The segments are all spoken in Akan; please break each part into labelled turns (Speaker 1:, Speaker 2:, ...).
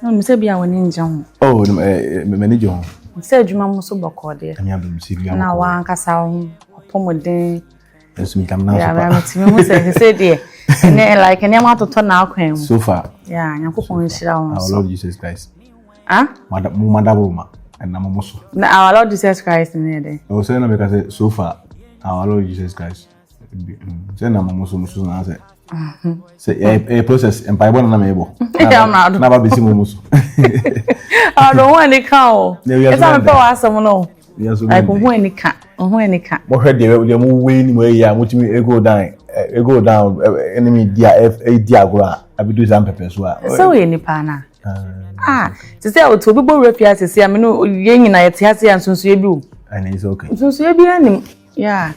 Speaker 1: Ɛna mi sɛ bi a
Speaker 2: wɔn ani gye ho. Oh,
Speaker 1: m'ani gye ho. Sɛ adwuma
Speaker 2: mu so bɔkɔɔ deɛ. Ɛmi abɛm si bi a. Na
Speaker 1: wɔn ankasa wɔn
Speaker 2: apɔmuden. Ɛnso mi tam
Speaker 1: na so pa. Ɛmi tumi mu sɛ
Speaker 2: sɛ deɛ. Ɛnɛ like nneɛma atotɔ na akwan mu. So far. Yeah,
Speaker 1: nyankopɔn nhyira
Speaker 2: wɔn so. Our Lord Jesus
Speaker 1: Christ.
Speaker 2: Ah? Mo mada wo ma.
Speaker 1: Ɛna mo mo so. Na our Lord Jesus
Speaker 2: Christ ni yɛ dɛ. Ɔsɛ na mi ka sɛ so
Speaker 1: far. Our Lord Jesus Christ. sɛ na mo so mo so na sɛ sɛ ɛyɛ process mpaebɔ na na mɛbɔ na ba bɛsi mo mo so
Speaker 2: ɔno ho ani ka o ɛsɛ mepɛ wɔ asɛm no ɛko ho ani ka ho ani ka mohwɛ deɛ
Speaker 1: deɛ mo wei ni mo ayi a motumi ego down ego down ɛne me di a ɛdi agorɔ a abidu saa mpɛpɛ so a sɛ woyɛ nipa
Speaker 2: no a te sɛ ɔte obi bɔ wura fie asɛsi a me no yɛ nyina yɛte ase a nsonsoyɛ bi o nsonsoyɛ
Speaker 1: bi anim
Speaker 2: Yeah,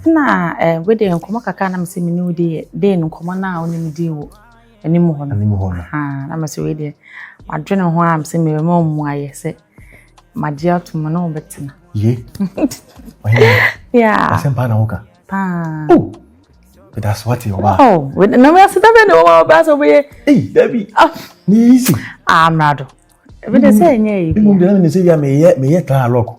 Speaker 2: na eh, we de nkɔmɔ kakra na mese me ne wo di de no nkɔmɔ na wo ne me di wo anim hɔ no. Anim hɔ no. Ha, na mese we de madwene ho a mese me ma mu ayɛ sɛ magye ato mu na wobɛtena. Ye. Yeah. Asɛm paa na
Speaker 1: woka. Paa. Oh. But that's what you are. Oh, na me aseda
Speaker 2: be no wa ba so be. Hey, Debbie. Ah,
Speaker 1: ni easy. Ah, mrado.
Speaker 2: Ebi de say enye yi. Mo bi na me say ya me
Speaker 1: ye me ye tan lock.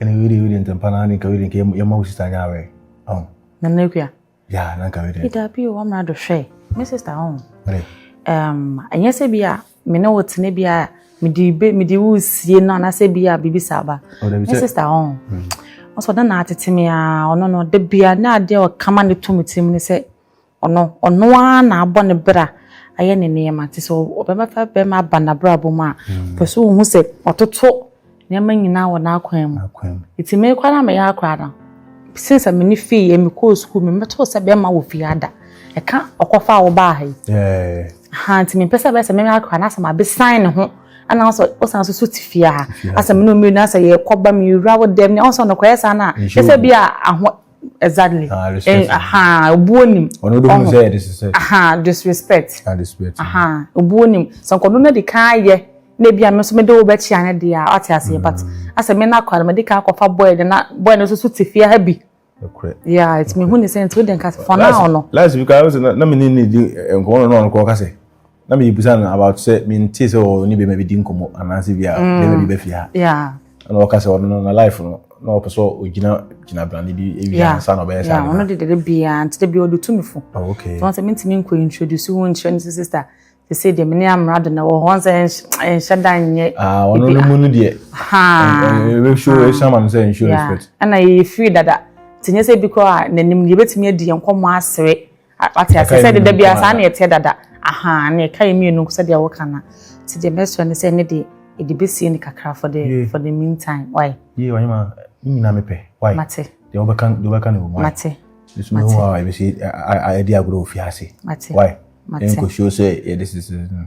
Speaker 1: ɛne wei deɛ wei deɛ ntɛmpa naa ne nka wei deɛ nka yɛma wo sista nyɛ awɛ ɔn nana akua ya
Speaker 2: na nka
Speaker 1: wei deɛ dabi o wɔmmra do
Speaker 2: hwɛ me sista ɔn ɛnyɛ sɛ bi a me ne wo tene bi a mede be mede wo sie no anaasɛ bi a biribi saa ba oh, me sista ɔn ɔsɛ ɔda na atete me a ɔno no da bia na adeɛ ɔkama ne to me tirim ne sɛ Ɔno, ɔno ara na abɔ ne bra ayɛ ne nneɛma. Nti sɛ ɔbɛma fa bɛrima aba n'abrabɔ mu a, pɛ sɛ ohu sɛ ɔtoto nneɛma nyinaa wɔ n'akwan mu. Nti me koraa na meyɛ akora no. Sen sɛ me ne fii yɛ mekɔɔ sukuu me mɛtoo sɛ bɛrima wɔ fie ada. Ɛka ɔkɔfa a wɔbaa ha yi. Ha
Speaker 1: nti mempɛ sɛ
Speaker 2: bɛyɛ sɛ me akora no asɛ mabesan ne ho ana sɛ ɔsan so so te fie ha asɛ me ne ɔmmienu asɛ yɛkɔba mewura wo dɛm ne ɔsɛ ɔnokɔyɛ saa no a ɛsɛ bi a exactly ah, eh, aha obuo nim ɔno de mu sɛ yɛ disrespect aha disrespect ah disrespect aha obuo nim sɛ nkɔdo na de kan yɛ na ebi a me nso me de wo bɛkyia ne deɛ a ɔte aseɛ but mm. asɛ me na akɔ no me de kan akɔfa boy de na boy no nso so te fie ha bi yeah it's me hu ne sɛ nti wo de nka fɔ naa ɔno last week i was na
Speaker 1: me ne ne di nkɔmɔ no na ɔno kɔ ɔka sɛ na me bisa no about sɛ me nti sɛ ɔwɔ ne bɛma bi di nkɔmɔ anaasɛ bi a mm. bɛma bi bɛfi ha ɛna ɔka
Speaker 2: sɛ ɔno
Speaker 1: na life no na ɔpɛ sɛ ɔgyina gyina brane bi ɛwi ansa na ɔbɛyɛ saa ɔno de dede biaa
Speaker 2: nti da bi ɔde tu me fo oh, nti wɔn sɛ mentumi
Speaker 1: nkɔ
Speaker 2: introduce wo nkyerɛ no sɛ sister te sɛ deɛ mene amena do na wɔ hɔ sɛ ɛnhyɛ da nyɛ ah, ɔno no mu no
Speaker 1: deɛ ɛhyɛ ma no sɛ nhyɛ respect ɛna yɛyɛ firi
Speaker 2: dada nti nyɛ sɛ bi koraa n'anim deɛ yɛbɛtumi adi yɛn nkɔmmɔ asere Wate ase sɛ deda biara saa na ɛteɛ dada. Ahaa, na ɛka yɛ mmienu nko sɛdeɛ woka no. Nti deɛ mɛsrɛ ne sɛ ne deɛ ɛde bɛsie no kakra for the for the meantime. Why? Yie wanyɛ ma
Speaker 1: ne nyinaa mepɛ. Why? Mate. Deɛ wobɛka
Speaker 2: deɛ wobɛka
Speaker 1: ne wɔ mu. Mate. Nso mehu
Speaker 2: hɔ a
Speaker 1: ɛbɛsi ɛdi agorɔ ofie ase. Mate. Why? Mate. Ɛnkɔsuo sɛ yɛde sisi no.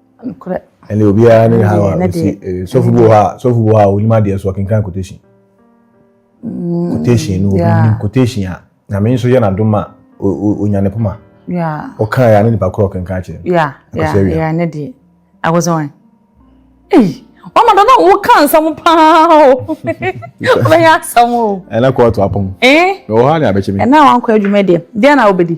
Speaker 1: Nokorɛ.
Speaker 2: Ɛnna obiara ne
Speaker 1: ha wa osi eh, sɔfo bi wɔ hɔ a sɔfo bi wɔ hɔ a onim adeɛ so ɔkenkan quotation mm, quotation no obi nim quotation a na me nso yɛ n'adom a onya ne poma ɔka
Speaker 2: yɛ a ne nipa korɔ
Speaker 1: ɔkenkan kyerɛ no akɔsɛ awia ne
Speaker 2: deɛ akɔsɛ wɔn ei wama dɔ na woka nsɛm paa o wobɛyɛ asɛm o ɛna kɔɔto apɔm
Speaker 1: ɛwɔ
Speaker 2: hɔ a ne abɛkyɛ
Speaker 1: me ɛna
Speaker 2: wankɔ adwuma
Speaker 1: deɛ
Speaker 2: deɛ na wobɛdi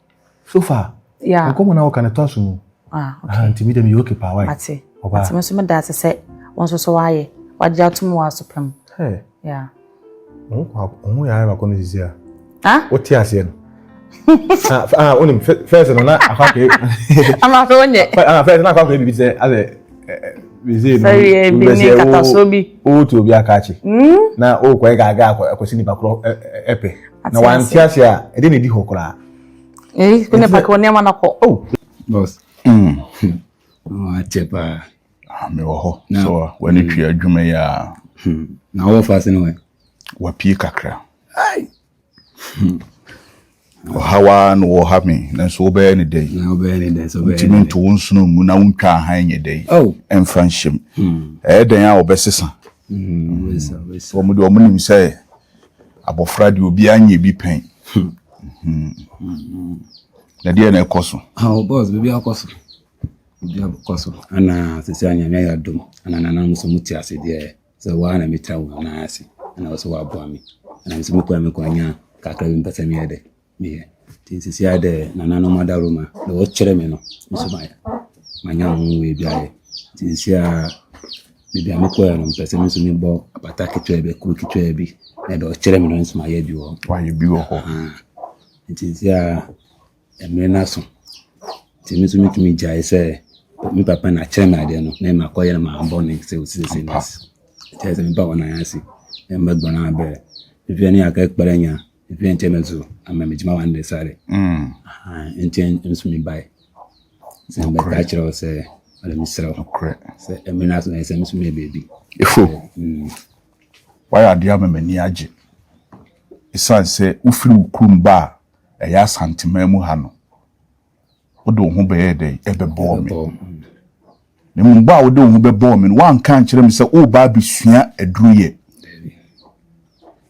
Speaker 2: so far
Speaker 1: yeah. nkɔmmɔ na wɔka no
Speaker 2: tɔ so
Speaker 1: mu ah, okay. nti medɛ
Speaker 2: meyɛ oke paa
Speaker 1: wae mate mate me so
Speaker 2: meda ase sɛ wo nso so woayɛ wagye atom wɔ aso pam
Speaker 1: yeah. ɔho yɛ ayɛ bakɔ no sisi a ah? wote aseɛ
Speaker 2: no
Speaker 1: ah, ah, wonim fɛs no na akwakɛ ama fɛ
Speaker 2: wonyɛ fɛs na akwakɛ bibi
Speaker 1: sɛ asɛ sɛdeɛ bi ne nkatasoɔ
Speaker 2: bi wotu obi aka akye
Speaker 1: hmm? na wokɔɛ gaaga akɔsi nipa korɔ ɛpɛ na wante ase a ɛde na ɛdi hɔ koraa
Speaker 2: nipa korɔ nneɛma no kɔ
Speaker 3: akyɛ paa mewɔ hɔ
Speaker 1: sɛ w'ani twe adwuma yi a na wɔfa
Speaker 3: se no wapie kakra
Speaker 1: Ɔhaw ara na wɔreha me, nanso wobɛyɛ no dɛn? Na wobɛyɛ no dɛn? So wobɛyɛ
Speaker 3: no dɛn? nto wo nsono mu
Speaker 1: na wontwa hann nyɛ dɛn? Ɛmfa nhyɛ
Speaker 3: mu.
Speaker 1: Ɛyɛ dɛn a wɔbɛsesa? Wɔn deɛ wɔnim sɛ abɔfra deɛ obiara nyɛ bi pɛn. Na deɛ na ɛkɔ so. Awo bɔs biribi akɔ
Speaker 3: so. Biribi akɔ so. Ana sisi anyame yɛ adom. Ana nana muso mu ti ase deɛ. sɛ woa na mɛtena wo nan ase na wo sɛ woaboa me na me sɛ mekɔ a mekɔ anya kakra bi mpɛ sɛ meyɛ dɛ meyɛ nti nsisi a dɛ nananom adaworoma na wɔkyerɛ me no nso mayɛ manya ho wei bi ayɛ nti nsisi a baabi a mekɔɛ no mpɛ sɛ me nso mebɔ apata ketewa bi kuro ketewa bi na dɛ ɔkyerɛ me no nso mayɛ bi wɔ hɔ
Speaker 1: nti nsisi
Speaker 3: a Mmere no aso nti me nso metumi gyae sɛ me papa na akyerɛ me adeɛ no na ɛma akɔyɛ no maa bɔ ne sɛ ɔsi sɛ no asi ɛkyerɛ sɛ me ba wɔ nan ase na ɛma gbɔn abɛ ɛfɛ ne aka ɛkpɛrɛ nya ɛfɛ nkyɛ me nso ama me gyima wande sare nti nso me bae sɛ mbɛka akyerɛ wo sɛ ɔde me serɛ wo sɛ ɛmɛ no aso na ɛsɛ me nso meyɛ baabi ɛfo
Speaker 1: wayɛ adeɛ ama m'ani agye ɛsiane sɛ wofiri wo kurom ba a ɛyɛ Asanteman mu ha no, wode wo ho bɛyɛɛ dɛn? Ɛbɛbɔɔ me. Na mmom bɔ a wode wo ho bɛbɔɔ me no, woanka ankyerɛ me sɛ woreba abɛsua aduruyɛ.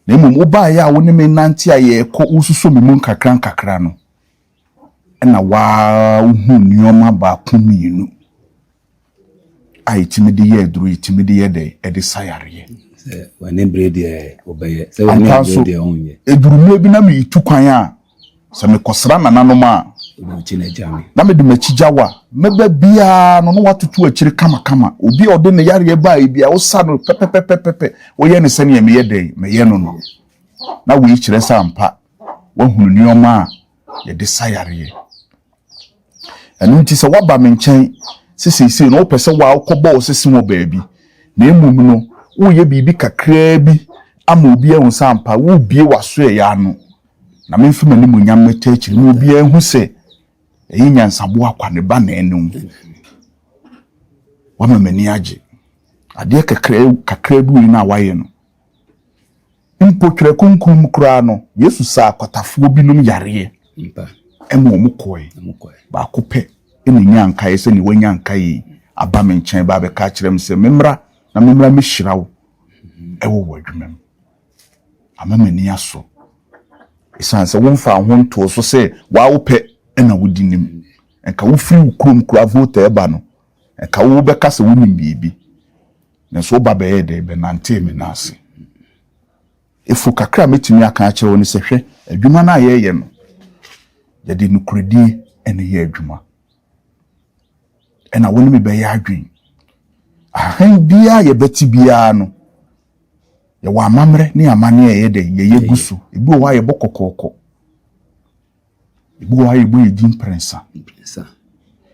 Speaker 1: Na mmom wobaeɛ a wo ne me nante a yɛrekɔ wosuso me mu nkakra nkakra no, ɛna woahu nneɛma baako mmienu. a ɛtumi de yɛ aduro ɛtumi de yɛ dɛ ɛde sa yareɛ wɔne
Speaker 3: bere deɛ wɔbɛyɛ sɛ wɔne bere deɛ wɔnyɛ adurummerɛ bi na meretu
Speaker 1: kwan a sɛ mekɔsra nananom a na mede m'akyi gya wo a mɛba biara no na watoto akyire kamakama obi a ɔde ne yareɛ baa ebi a wosa no pɛpɛpɛpɛpɛ woyɛ ne sɛdeɛ meyɛ dɛn meyɛ no no na wei kyerɛ sɛ ampa wahunu nneɛma a yɛde sa yareɛ. Ɛno nti sɛ woaba me nkyɛn sɛ seesei no wopɛ sɛ woakɔbɔ wo sese wɔ baabi na mmom no woreyɛ biribi kakraa bi ama obi ahu sɛ ampa wobie w'aso ɛyɛ ano na memfa m'animuonyam mɛta akyiri ma obiara ahu sɛ ɛyɛ nyansaboa kwa ne ba na ɛne wo wama m'ani agye adeɛ kakraa kakraa bi wei no a wayɛ no Mpo Twerɛ Kronkron mu koraa no, Yesu saa akwatafoɔ binom yareɛ ma wɔn kɔɔe. Baako pɛ na ɔnyaa nkaeɛ sɛ, Deɛ wanya nkaeɛ yi aba me nkyɛn ba abɛka akyerɛ me sɛ memmra na memmra mmɛhyira wo wɔ w'adwuma mu. Ama m'ani asɔ ɛsiane sɛ womfaa wo ho ntoo so sɛ woa wopɛ na wodi nim. Nka wofiri wo kurom koraa Volta reba no, Ɛka wo wobɛka sɛ wonim biribi, nanso wo ba bɛyɛɛ dɛn? Bɛnantee me nan ase. Efo kakra a mɛtumi aka akyerɛ wo ne sɛ, hwɛ, adwuma no a yɛreyɛ no, yɛde nokorɛdie na ɛyɛ adwuma. Ɛna wo ne me bɛyɛ adwen. Ahan biara yɛbɛte biara no, yɛwɔ amammerɛ ne amanneɛ a ɛyɛ dɛn? Yɛyɛ gu so. Ebi wɔ hɔ a yɛbɔ kɔkɔɔkɔ. ebi wɔ hɔ a yɛbɔ yɛ din mprɛnsa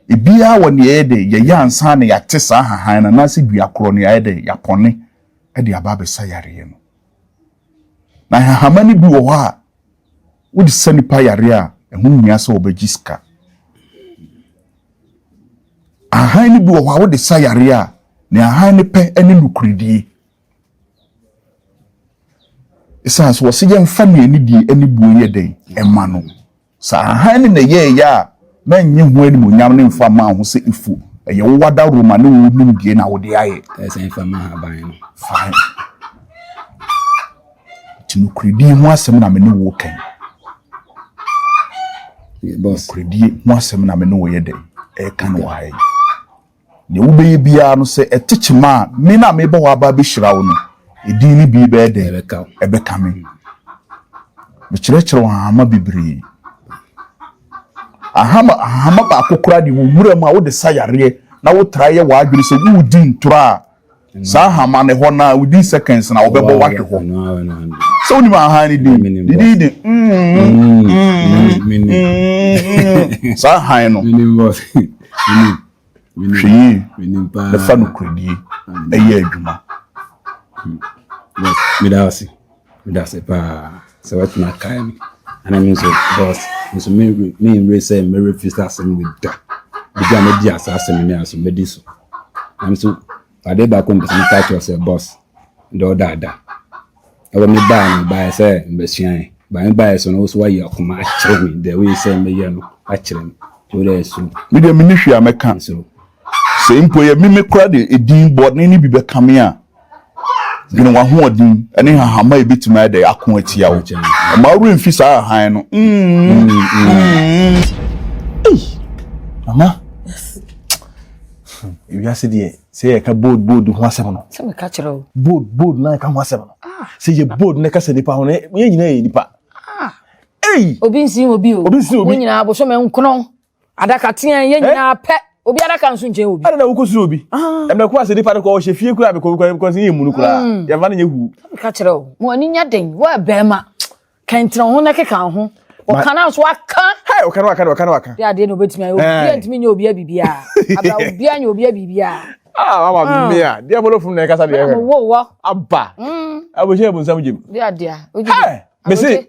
Speaker 1: ebiara wɔ nea ɛyɛ dɛ yɛyɛ ansa na yɛate saa hahan no anaasɛ dua korɔ no yɛayɛ dɛ yɛapɔne de aba abɛsa yareɛ no na hahama no bi wɔ hɔ a wode sa nipa yareɛ a ɛho hia sɛ wɔbɛgye sika ahan no bi wɔ hɔ a wode sa yareɛ a ne ahan no pɛ ne nokoredie Ɛsiane sɛ wɔse yɛmfa nea anidie ne buo yɛ dɛn ɛma no, saa hann no na ɛyɛɛ yɛ a na nnye ho animuonyam no mfa mmaa ho sɛ efu ɛyɛ wo wadawuroma ne wo nimdeɛ na wode ayɛ. Ɛsan fa ma ahaban
Speaker 3: no.
Speaker 1: Fine. Ti nokoredi ho asɛm na me ne wo kan.
Speaker 3: Nokoredi ho asɛm
Speaker 1: na me ne wo yɛ dɛn ɛka no wɔ ha yi. Nea wobɛyɛ biara no, sɛ ɛte kyema a, me no a mebɔ hɔ aba abɛhyira wo no, edin no bi bɛyɛ dɛn? Ɛbɛka me. Mekyerɛkyerɛw nhama bebree. Ahama, ahama baako koraa de wɔ nwura mu a wode sa yareɛ na wotra yɛ w'adwene sɛ woredi ntorɔ a, Saa hama no hɔ naa within seconds na wɔbɛbɔ wahwe hɔ. Sɛ wonim ahan no din, ne din de saa han no. Hwɛ yie na fa nokorɛdie ɛyɛ adwuma.
Speaker 3: Meda ase. Meda ase paa sɛ woatumi akae me. Ɛna me nso boss nso menwere sɛ mɛrefi sɛ asɛm wei da. Ebi a mɛdi asa asɛm ne aso mɛdi so. Nam so ade baako mpɛ sɛ meka kyerɛ sɛ boss dɛ ɔda ada. Ɛwɔ me baa no baayɛ sɛ mbɛsua ɛ. Baa me baayɛ so no wo so wayi akoma akyerɛ me dɛ woyɛ sɛ mɛyɛ no akyerɛ me. Wo dɛ ɛso. Me deɛ menni hwee a
Speaker 1: mɛka. Nso. Sɛ mpo ɛyɛ me me koraa de edin bɔne no bi bɛkame a, dwene w'ahoɔden ne nhahamma a yebetumi ayɛ dɛ ako atia wo. Mma wo werɛ mfi saa hann no. Mm. Mm. Ei, mama. Yes. Ewiase deɛ, sɛ yɛka bold bold ho asɛm no. Sɛ meka kyerɛ wo.
Speaker 2: Bold bold na yɛka ho
Speaker 1: asɛm no. Ah. Sɛ yɛ bold na kasa nipa ho no, yɛn nyinaa yɛ nipa. Ah. Ei.
Speaker 2: Obi nsi obi o. Obi nsi obi. Wɔn nyinaa bosom nkono. Adaka teɛn yɛ nyinaa pɛ obi adaka nso nkyɛn obi. ɛna na wokɔ suro obi
Speaker 1: ɛmɛ kɔ ase nipa no kɔ ɔhyɛ fie kura bɛkɔ bɛkɔ bɛkɔ yɛ munu kura yɛfa no nyɛ hu. ka kyerɛ o mo
Speaker 2: ani nya den wɔ bɛrima kɛntɛn ho na keka ho ɔka na so aka. hɛ ɔka na waka na ɔka na
Speaker 1: waka. yɛ adeɛ na obetumi ayɛ
Speaker 2: obiara ntumi nyɛ obiara biribiara abira obiara nyɛ obiara biribiara. Ah, ama ah. me
Speaker 1: a. Dia bolo funu na kasa dia. Mo wo wo. Aba.
Speaker 2: Mm.
Speaker 1: Abo je bu nsam jim. Dia dia. Oje.
Speaker 2: Me se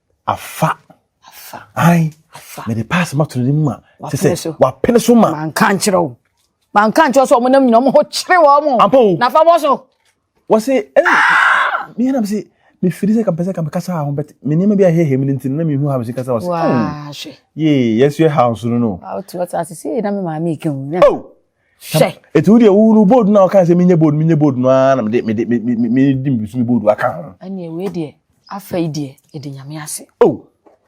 Speaker 1: afa ayi mede pass ma toro ne mu ma te sɛ wapene so ma. manka nkyerɛ wo
Speaker 2: manka nkyerɛ sɛ ɔmonam nyina ɔmo ho kyere wɔ mo ampa o na fa bɔ so wɔse
Speaker 1: ɛna meyɛ nam se mefiri sɛ kampɛ sɛ kampɛ kasa ho bɛte me nneɛma bi ahɛhɛ mu no nti na mehu ha mesi kasa wɔse
Speaker 2: yee yɛnso yɛ ha
Speaker 1: nso no no wotumi ɔte ase sɛ
Speaker 2: na me maame ɛka mu hwɛ
Speaker 1: ɛti wo deɛ wo no bold no a woka sɛ menyɛ bold menyɛ bold no ara na mede mede mede mbisu me bold aka ho ɛneɛ wei deɛ
Speaker 2: afei deɛ ɛde nyame ase o oh.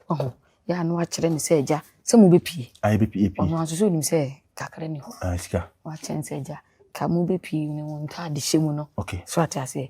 Speaker 2: ɔho oh. yɛ ano akyerɛ me sɛ agya sɛ mobɛpie ayɛ bɛpie pie ɔno nso
Speaker 1: sɛ onim sɛ
Speaker 2: kakra ni hɔ ah, sika wakyɛn
Speaker 1: sɛ agya
Speaker 2: ka mobɛpie ne wo ntaade hyɛ mu no okay so ate aseɛ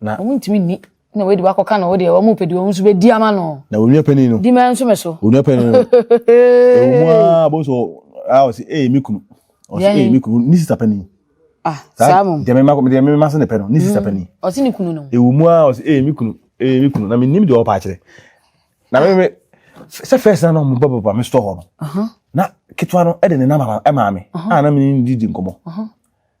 Speaker 2: na wontumi nni na wei de wakɔka na wo deɛ wɔn pɛ deɛ wɔn nso bɛdi ama no na onua panin no di mɛ
Speaker 1: nso mɛ so
Speaker 2: onua
Speaker 1: panin
Speaker 2: no
Speaker 1: ewu mu a bɔ so a ɔsi ee mi kunu ɔsi ee mi kunu ne sista panin ah saa mo
Speaker 2: deɛ mɛma deɛ mɛma
Speaker 1: se ne pɛ no ne sista mm. panin ɔsi ne kunu no ewu
Speaker 2: mu a ɔsi ee mi
Speaker 1: kunu ee mi kunu na mi nim deɛ ɔpa akyerɛ na mɛ mɛ sɛ fɛs na na ɔmo bɔ bɔ bɔ mi sitɔ hɔ no na ketewa no ɛde ne nam ɛma mi a na mi ni di di nkɔmɔ.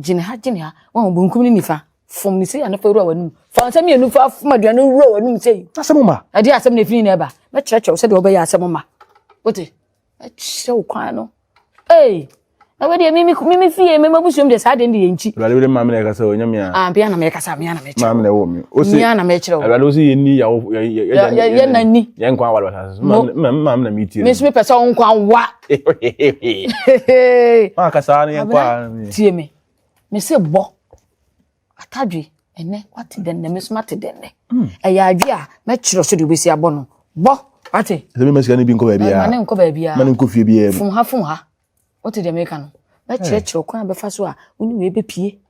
Speaker 2: Gyina ha, gyina ha. Wɔn benkum ne nifa. Fom ne sei a na fa wura w'anum. Fa nsɛm mmienu fa fom aduane no wura w'anum sei. Asɛm ma. Ɛde asɛm
Speaker 1: na efini na ɛba.
Speaker 2: Mɛkyerɛkyerɛ wo sɛdeɛ wɔbɛyɛ asɛm ma. Wote? Ɛkyerɛ wo kwan no. Ee. Na wei deɛ mimi mimi fie mimi abusuam deɛ saa deɛ no deɛ nkyi. Awurade bi de maame na ɛkasa o,
Speaker 1: nyɛ mea. Ah, bia na mekasa, mea na
Speaker 2: mekyerɛ. Maame na ɛwɔ me. Ose.
Speaker 1: Mea na mekyerɛ o. Awurade ose
Speaker 2: yɛnni yawo
Speaker 1: yɛ yɛ yɛ yɛ nani. Yɛn nkwa
Speaker 2: awale wɔ
Speaker 1: asase so. Maame na metie. Me nso mepɛ sɛ wo nkwa
Speaker 2: wa.
Speaker 1: maa ka saa ne yɛnkɔ a tie me
Speaker 2: me se bɔ atadwe ɛnɛ wate dɛn na me so mate dɛn nɛ hmm. ɛyɛ adwe a mɛkyerɛ so de wobɛsi abɔ no bɔ wate ɛsɛ bi masika no bi nkɔ
Speaker 1: baabiaa ma ne nkɔ baabiaa ma ne nkɔ
Speaker 2: fie biaa fom
Speaker 1: ha fom ha
Speaker 2: wote deɛ meka no mɛkyerɛkyerɛ kwan a bɛfa so a wo ne wei bɛpie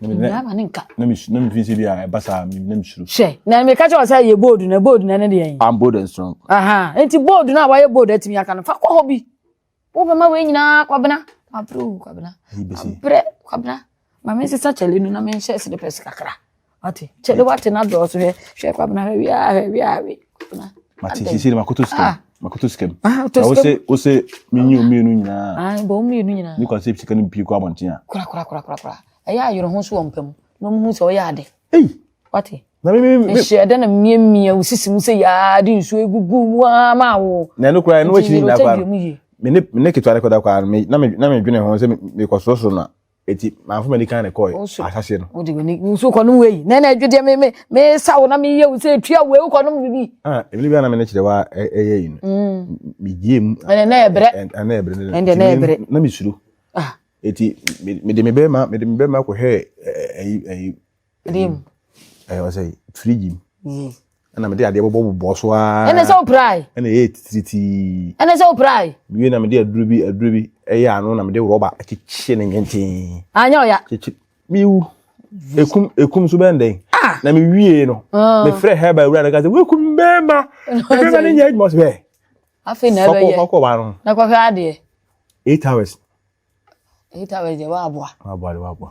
Speaker 2: nnuaba ne nka. na mefi sɛ bi a
Speaker 1: ɛba saa na mesuro hyɛ na meka kyɛ wɔ sɛ
Speaker 2: yɛ bold na bold na ne deɛ I'm bold and strong aha
Speaker 1: nti bold
Speaker 2: no a wayɛ bold atumi aka no fa kɔ hɔ bi wobɛma wei nyinaa kwabena mabrɛ o kwabena mabrɛ kwabena ma mensesa kyɛle no na menhyɛ slepɛs kakra wate kyɛle wate no adɔɔso hwɛ hwɛ kwabena hwɛ wiaa hwɛ wiaa wei mate sisi de
Speaker 1: makoto sika ah. makoto sika mu ah, na wose wose menyi o mmienu nyinaa ah, bɔ o mmienu nyinaa ne kwan
Speaker 2: sɛ sika no mpie kɔ
Speaker 1: abɔnten a kora kora kora kora kora
Speaker 2: ɛyɛ ayerɛ ho so wɔ mpɛ mu na ɔmo hu sɛ ɔyɛ ade ei wate na mi mi mi mehyɛ
Speaker 1: dɛ na mmea mmea
Speaker 2: o sisi mu sɛ yaa de nsuo egugu mu aa maa wo na ɛno kora ɛno akyi nyinaa
Speaker 1: kora me ne me ne ketewa ne kɔda kora na me na me dwene ho sɛ me kɔ sorosoro na eti maa fún mi ni kan na kɔɔ asase no. o de wani nso kɔ nom
Speaker 2: wei na ɛna ɛdwi deɛ me me me sa wo na me yɛ wo sɛ etua wei wokɔ nom bibi. ah ebile bi a na me ne kyerɛ
Speaker 1: wa ɛyɛ yi no. me gyie mu. ɛna ɛna ɛbrɛ
Speaker 2: ɛna ɛbrɛ ɛna ɛna ɛbrɛ na me suro.
Speaker 1: ah eti me de me bɛɛ ma me de me bɛɛ ma kɔ hɛ ɛyi ɛyi.
Speaker 2: ɛdeɛ mu ɛyɛ
Speaker 1: ɔsɛ firigyi mu ɛna mede adeɛ bɔbɔ bobɔ so aa ɛna sɛ woprae ɛna
Speaker 2: ɛyɛ titiritii
Speaker 1: ɛna sɛ woprae
Speaker 2: wie na mede aduro bi
Speaker 1: aduro bi ɛyɛ ano na mede rɔba akyekye ne nwenten anyɛ ɔya kyekye
Speaker 2: mewu
Speaker 1: ekum ekum so bɛn dɛn ah! na mewie no ah. mefrɛ hɛba awura no ka sɛ woakum bɛɛma bɛɛma no nyɛ adwuma so bɛɛ afei na ɛbɛyɛ
Speaker 2: fɔkɔ ba no na kɔhwɛ
Speaker 1: adeɛ
Speaker 2: eight hours
Speaker 1: Ahitawɛre
Speaker 2: deɛ waboa. Waboa de waboa.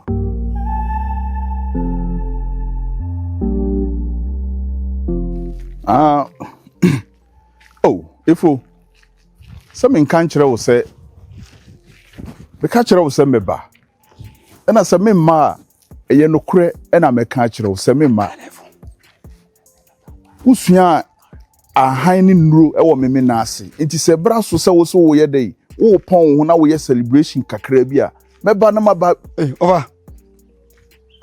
Speaker 1: Ah, oh, efo. Sɛ menka nkyerɛ wo sɛ meka kyerɛ wo sɛ mɛba ɛna sɛ memma a ɛyɛ nokorɛ ɛna mɛka akyerɛ wo sɛ memma Wosuaa ahan ne nnuro wɔ Memenaa ase. Enti sɛ bere aso sɛ wo nso woyɛ dɛn? Worepɔn wo ho na woyɛ celebration kakraa bi a, mɛba na maba. Ei, ɔfa.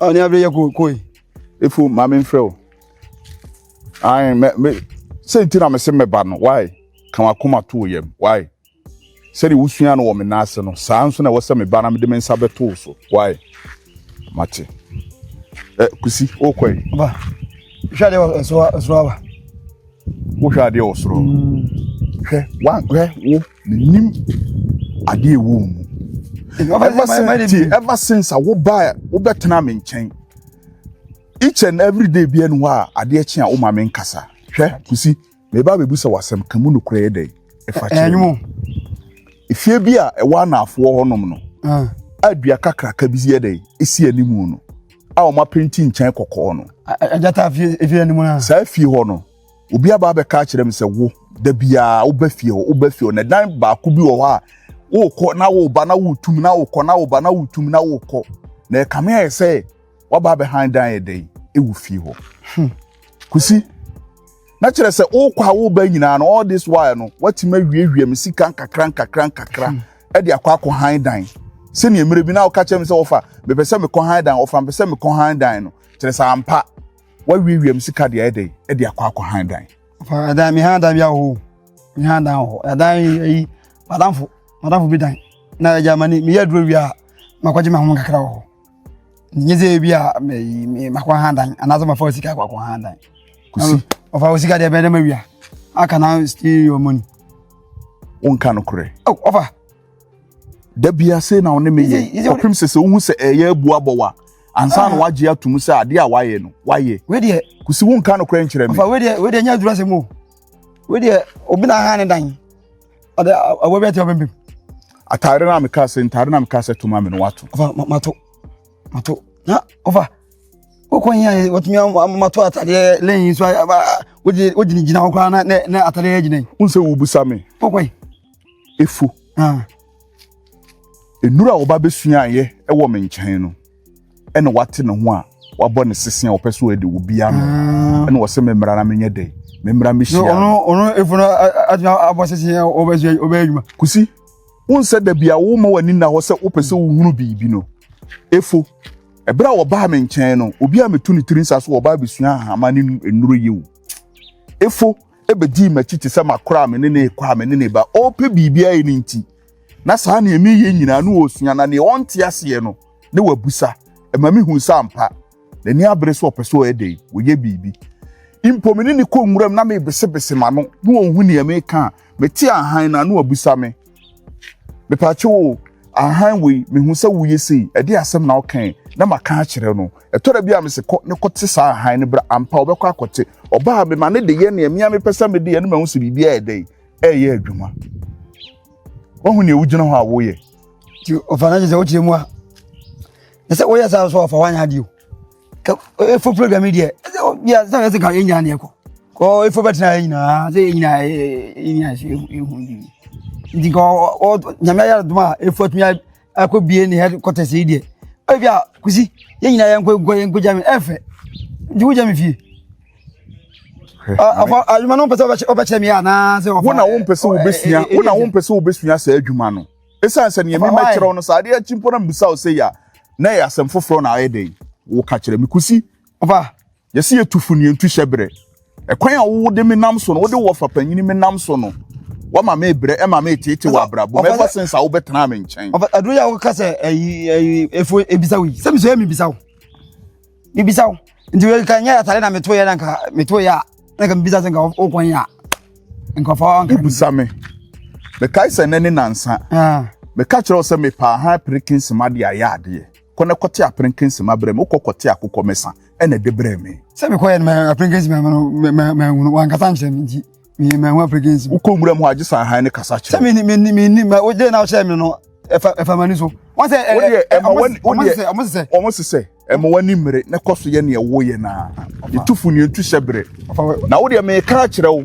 Speaker 4: A ne abere yɛ ko ko yi. Efo, ma
Speaker 1: memfrɛ wo. Ae, me, me, sɛ nti na mese mɛba no, why? Ka w'akoma to wo yam, why? Sɛdeɛ wosuaa no wɔ me nan ase no, saa ara nso na ɛwɔ sɛ meba na mede me nsa bɛto wo so. Wae? Mate. Ɛ, Kusi, wokɔ yi? Ba,
Speaker 4: hwɛ adeɛ wɔ soro ha, soro ha ba.
Speaker 1: Wohwɛ adeɛ wɔ soro. Mm. Hwɛ, wa, hwɛ, wo, menim adeɛ ɛwɔ wo mu. Ɛba since a wobaa wobɛtena me nkyɛn each and every day bi ɛne hɔ a adeɛ kye a woma me nkasa hwɛ kusi Meba abɛbisa wo asɛm, ka mu nokorɛ yɛ dɛn? Ɛfa kyerɛ me.
Speaker 4: Efie
Speaker 1: bi a ɛwɔ anaafoɔ hɔnom no, a dua kakraka bi yɛ dɛn? Esi animu no, a wɔn apenti nkyɛn kɔkɔɔ no. Agyata efie
Speaker 4: anim no. Saa efie hɔ no,
Speaker 1: obi aba abɛka akyerɛ me sɛ wo, da biara woba fie hɔ, woba fie hɔ, na dan baako bi wɔ hɔ a, wokɔ na woba na wotum na wokɔ na woba na wotum na wokɔ. Na ɛkame ayɛ sɛ waba abɛhan dan yɛ dɛn ewu fie hɔ hmm. kusi na kyerɛ sɛ wokɔ a woba nyinaa no all this while no watumi awiawia me sika nkakra nkakra nkakra hmm. ɛde akɔ akɔ han dan sɛnea mmerɛ bi na woka kyerɛ me sɛ wɔfa mepɛ sɛ mekɔ han dan wɔfa mepɛ sɛ mekɔ han dan no kyerɛ sɛ ampa wawiawia me sika deɛ ɛdɛ ɛde akɔ akɔ han dan ɛdan mehan
Speaker 4: dan bi ahɔ mehan dan hɔ ɛdan yi madamfo madamfo bi dan na agya ma ne meyɛ aduro wie a makɔgye me ho kakra wɔ hɔ nye sɛ ebi a makɔ ha dan anaasɛ mafa wo sika akɔakɔ ha dan ɔfa wo sika deɛ bɛdɛ mawia aka na still your money
Speaker 1: wonka no korɛ ɔfa da bia sei na wo ne meyɛ ɔpem sɛ sɛ wohu sɛ ɛyɛ abu abɔ wa ansa na ah. wagye atom sɛ adeɛ a wayɛ no wayɛ wedeɛ kusi wonka
Speaker 4: no korɛ
Speaker 1: nkyerɛ me ɔfa wedeɛ wedeɛ nyɛ adurasɛm
Speaker 4: o wedeɛ obi na aha ne dan ɔde awɔ bi ati ɔbɛn bi. ataare na
Speaker 1: meka sɛ ntaare na meka sɛ toma me no wato. ɔfa mato
Speaker 4: mato na ɔfa wokɔ hin ayɛ wɔtumi mato atadeɛ lɛn so wogyina gyina hɔ koraa na atadeɛ agyina yi. n sɛ wobusa me.
Speaker 1: wokɔ yi.
Speaker 4: efu.
Speaker 1: Ah. nnuru a wɔba bɛsuaeɛ wɔ me nkyɛn no. ɛna wate ne ho a wabɔ ne sese a ɔpɛ so ɛde obi ano ah. ɛna ɔsɛ me mmara na menyɛ dɛ me mmara me hyia ɔno ɔno efo no
Speaker 4: agyina abɔ sese yɛ ɔbɛyɛ ɔbɛyɛ adwuma kusi
Speaker 1: wọn sɛ dabi a wọn ma wani na hɔ sɛ wopɛ sɛ wohunu biribi no efo ɛberɛ a wɔbaa me nkyɛn no obi a metu ne tiri nsa so wɔbaa bɛsua ahama ne nnuro yɛ o efo ɛbɛdii m'akyi te sɛ makora me ne ne kɔ a me ne ne ba ɔpɛ biribi ayɛ ne nti na saa nea meyɛ nyinaa no ɔresua na nea ɔnte aseɛ no na wabusa ɛma mehu sɛ ampa n'ani abere sɛ ɔpɛ sɛ ɔyɛ dɛn wɔyɛ biribi mpo me ne ne kɔ nwuram na mebesebese ma no na ɔhu nea meka a mete ahan no ano abusa me mepakye wo ahan wei mehu sɛ woyɛ sei ɛde asɛm na ɔkɛn na maka akyerɛ no ɛtɔ da bi a mese kɔ ne kɔte saa ahan no bra ampa ɔbɛkɔ akɔte ɔbaa mema ne de yɛ nea mea mepɛ sɛ mede yɛ no mahu sɛ biribiaa ɛdɛn ɛreyɛ adwuma wahu nea wogyina hɔ a woyɛ nti ɔfa no
Speaker 4: agye sɛ wokyerɛ mu a ɛ sɛ woyɛ saa so ɔfa woanyɛ adeɛ o ɛfo program yi deɛ bia sɛ ɛsɛ ka ɛnyina neɛ kɔ kɔ ɛfo bɛtena ɛ nyinaa sɛ ɛnyina ɛnyina ɛhu nti nka nyame ayɛ adom a ɛfo atumi ɛkɔ bie ne headquarters yi deɛ ebi a kusi yɛn nyinaa yɛn nkɔ nkɔ yɛn nkɔ gya mi ɛfɛ nti wo gya mi fie ɔkɔ adwuma no mpɛ sɛ ɔbɛkyerɛ mi anaa sɛ ɔfa wo na wo mpɛ sɛ wobɛsua
Speaker 1: wo na wo mpɛ sɛ wobɛsua saa adwuma no ɛsiane sɛ neɛ mema kyerɛ wo no saa adeɛ akyi mpo na mbisa wo sɛ yɛ a na ɛyɛ asɛm foforɔ na ayɛ dɛn woka kyerɛ me kusi ɔfa
Speaker 4: Yɛse yɛ tufo
Speaker 1: ne yɛntu hyɛ berɛ. Ɛkwan a wode me nam so no, wode wɔfa panyini me nam so no, wama me brɛ, ɛma me tete wɔ abrabɔ mu ever since a wobɛtena me nkyɛn. Aduro yɛ woka sɛ
Speaker 4: ɛyi ɛyi efo ebisa wo yi, sɛ miso yɛ mibisa wo, mibisa wo, nti wei ka nyɛ atare na meto yɛ na nka meto yɛ a na nka mibisa sɛ nka wokwan yɛ a nka fa wanka. Wobisa me,
Speaker 1: mekae sɛ nɛ ne nansa, meka kyerɛ wo sɛ mepɛ ahan pere kinsima de ayɛ adeɛ. Kɔ na kɔte aperenkensem abrɛ me. Wokɔ kɔte akokɔmesa na de brɛ me. Sɛ mekɔeɛ no,
Speaker 4: aperenkensem amma no, manhu no, wankasa ankyerɛ me nti, manhu aperenkensem. Wokɔ nwuram hɔ a, gye sɛ ahan
Speaker 1: no kasa kyerɛ wo. Sɛ menni, menni, ma
Speaker 4: wogye na wokyerɛ me no, ɛfa m'ani so. Wɔn sɛ, wɔn
Speaker 1: sesɛ, ɛma w'ani mmere na kɔ so yɛ nea woyɛ no ara. Ntu fo nni, ntu hyɛ bere. Na wo deɛ, meka akyerɛ wo.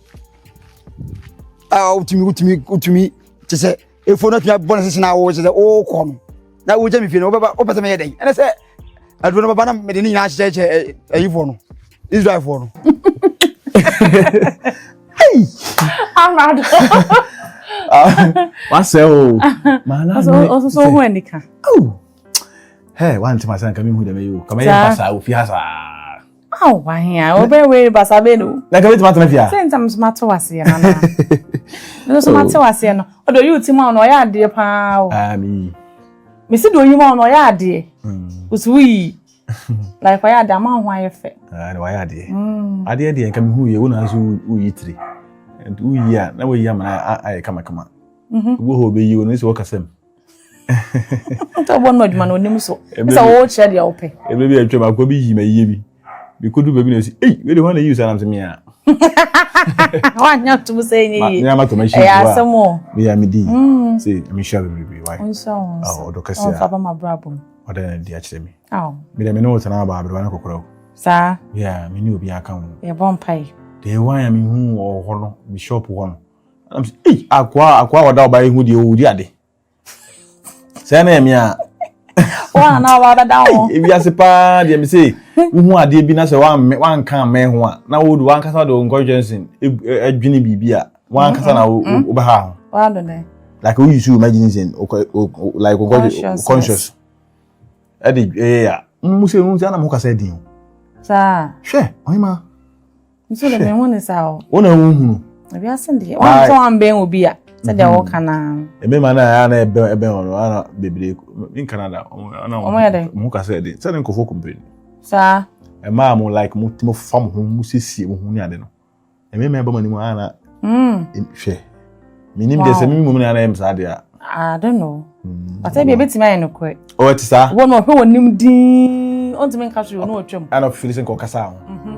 Speaker 4: a wotumi wotumi wotumi te sɛ efo no tumi abɔ ne sese na awo te sɛ ɔɔkɔ no na wogya mi fie no wobɛba wopɛ sɛ meyɛ dɛn ɛne sɛ aduro no bɛba na mede ne nyinaa hyehyɛhyɛ ayifoɔ no israelfoɔ no
Speaker 2: amado
Speaker 3: wasɛ o ɔsoso
Speaker 2: ho anika
Speaker 3: hɛ wantemasɛ nka mehu dɛmɛyi o kamɛyɛ mpa saa ofie ha saa Aw,
Speaker 2: wahia, wobɛ wei basa bɛ no. Na ka bɛtumi atena fie a. Sɛ
Speaker 3: ntam so mate waseɛ
Speaker 2: no anaa. Mene so mate waseɛ no. Ɔde ɔyi uti ma wo no ɔyɛ adeɛ paa o. Ami.
Speaker 3: Mesi de
Speaker 2: ɔyi ma wo no ɔyɛ adeɛ. Wosi woyi. Like ɔyɛ adeɛ ama ho ayɛ fɛ. Ah, ɔyɛ adeɛ.
Speaker 3: Adeɛ deɛ nka mehu yɛ wo na nso woyi tiri. Woyi a na woyi ama ayɛ kamakama. Wo hɔ bɛyi wo no sɛ wɔkasam.
Speaker 2: nti ɔbɔ no adwuma no onim so sɛ wɔwɔ kyerɛ deɛ wopɛ ɛbɛ bi atwam akɔ bi
Speaker 3: yi ma yie bi mekɔdu baabi na ɛsi ei wei de hɔ na yi saa nam sɛ mea
Speaker 2: wanyɛ tom sɛ ɛnyɛ yie mea matɔ machine ɛyɛ asɛm
Speaker 3: o mea
Speaker 2: medi mm.
Speaker 3: sɛ mehyia bebrebe wae ɔdɔ kɛse a ɔmfa ba ma brabɔ mu
Speaker 2: ɔdɛ na di akyerɛ
Speaker 3: me mede me ne wo tena
Speaker 2: aba aberewa
Speaker 3: no kɔkora o saa yɛ
Speaker 2: me ne obi
Speaker 3: aka ho yɛbɔ mpae
Speaker 2: deɛ wan a mehu
Speaker 3: wɔ hɔ no me shop hɔ no I'm s- Ei, akoa akoa a ɔda ɔbaa yi ho deɛ ɔwɔ di ade. Sɛ na ɛme a Wɔn
Speaker 2: a na ɔba bɛda ho. ei, ewiase paa
Speaker 3: deɛ me se wohu adeɛ bi na sɛ woammɛ- woanka ammɛn ho a na wode wankasa wode wo nkɔhwehwɛ nsen eg- ɛ-
Speaker 2: adwene
Speaker 3: biribi a wankasa na wo- wo- wobɛha ho.
Speaker 2: Wado
Speaker 3: dɛ. Like
Speaker 1: woyi so imagination wokɔ- wo- wo- like wokɔ- Consciousness. conscious. Ɛde ɛyɛ a mo sɛ mo sɛ na mo kasa din o. Saa.
Speaker 2: Hwɛ ɔhema nso de me ho ne saa o wo na wo hunu
Speaker 1: wiase deɛ
Speaker 2: wɔn sɛ wɔn bɛn obi a sɛdeɛ mhm. wɔka na mmarima no a na
Speaker 1: ɛbɛn ɛbɛn wɔn ana bebree in Canada ana wɔn yɛ dɛ wɔn kasa yɛ de sɛdeɛ nkɔfo kumpiri saa
Speaker 2: mmaa mo
Speaker 1: like mo mo fa mo ho mo siesie mo ho ne ade no mmarima ɛbɛn mo anim ana hwɛ menim deɛ sɛ meme mmom ne ana yɛm saa deɛ a I don't know
Speaker 2: mm, but ɛbi ɛbɛtumi ayɛ nokorɛ ɔwɔ oh, te saa wɔ no ɔhwɛ wɔ
Speaker 1: nim
Speaker 2: din ɔntumi nka so yɛ ɔno ɔtwam ɛna ɔfiri sɛ nka ɔkasa
Speaker 1: ho mhm.